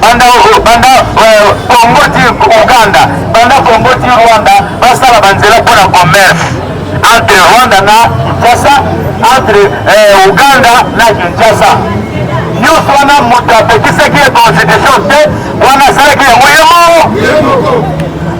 banda banda euh, Congo ti Ouganda banda Congo ti Rwanda basala banzela mpo na commerce entre Rwanda na Kinshasa entre euh, Ouganda na Kinshasa nyonso wana moto apekisaki ye constitution te wana asalaki yango ye moko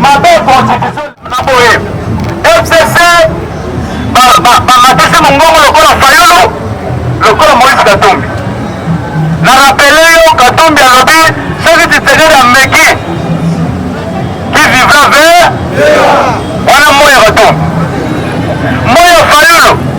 mabe constitution Maboye, FCC, bamatisi mongongo lokola Fayulu, lokola Moïse Katumbi. Na rapele yo, Katumbi alobi, soki Tshisekedi ameki, qui vivra vert, wana moya Katumbi. Moya Fayulu.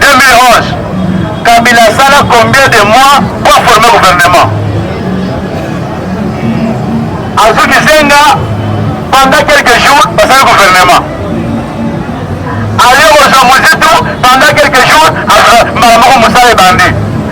2011 kabila asala combien de mois po aforme gouvernement azuki zenga pendant quelques jours basali gouvernement aye kozwa mozitu pendant quelques jours mbala moko mosala ebandi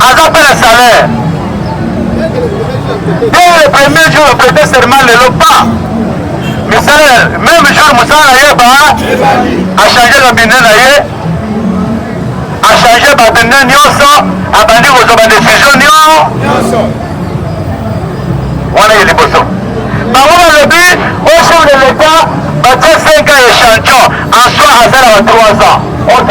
aza mpe na salaire dès le premier jour ya prete serment lelo pa misala meme jour mosala na ye ba achange na bine na ye achange babine nyonso abandi kozwa badesizio nyonso wana ye liboso bango balobi o chef de l'etat batie 5 ans ya chantion en soi aza na ba 3 ans ok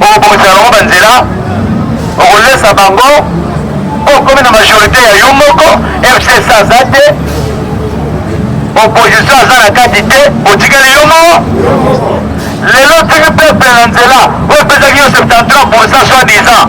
okobongisela bango banzela okolesa bango po okomi na majorité ya yo moko fcc aza te opposition aza na kati te otikali yo moko lelo tiki peuple na nzela oyo epesaki yo 73 pourcent soit disant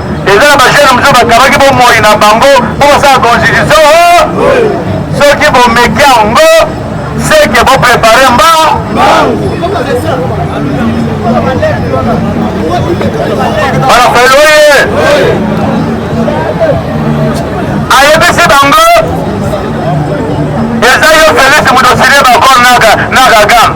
eza na ba jeune mosusu bakabaki bomoi na bango mpo basala constitution soki bomeki yango seke boprepare mbangu balafelo ye ayebisi bango eza yo felisi moto osili bakor na kagame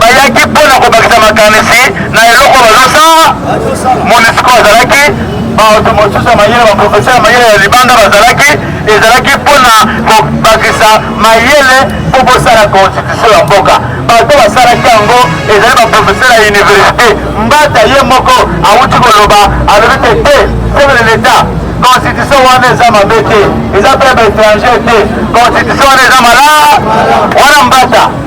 bayaki mpo na kobakisa makanisi na eloko bazosala. MONUSCO azalaki, bato mosusu ya mayele, baprofesere ya mayele ya libanda bazalaki, ezalaki mpo na kobakisa mayele mpo bosala konstitusio ya mboka. Bato basalaki yango ezali baprofesere ya universite. Mbata ye moko awuti koloba, alobi te te chef de l'etat constitution wana eza mabe te, eza mpe ba étranger te, constitution wana eza malaa wana mbata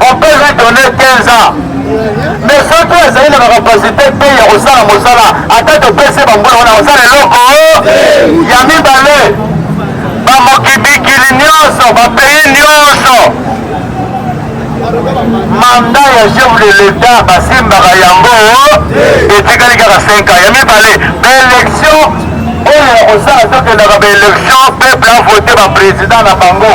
On peut lui donner 15 ans. Mais soki azali na bakapasite te ya kosala mosala ata topesi bambula wana kosala eloko ya mibale bamokibikili nyonso bapays nyonso manda ya chef de l'etat basimbaka yango etikali kaka 5 ans ya mibale baélection oyo ya kosala tokendaka baélection peuple avote baprésident na bango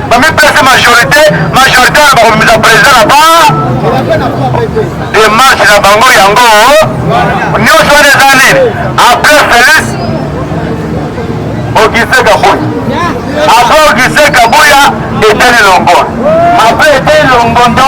bamipesa majorité majorité wana bakomimisa président na ba demarche na bango yango nyonso wana eza nini après félix ogise kabuya après ogise kabuya eteni longondo après eteni longondo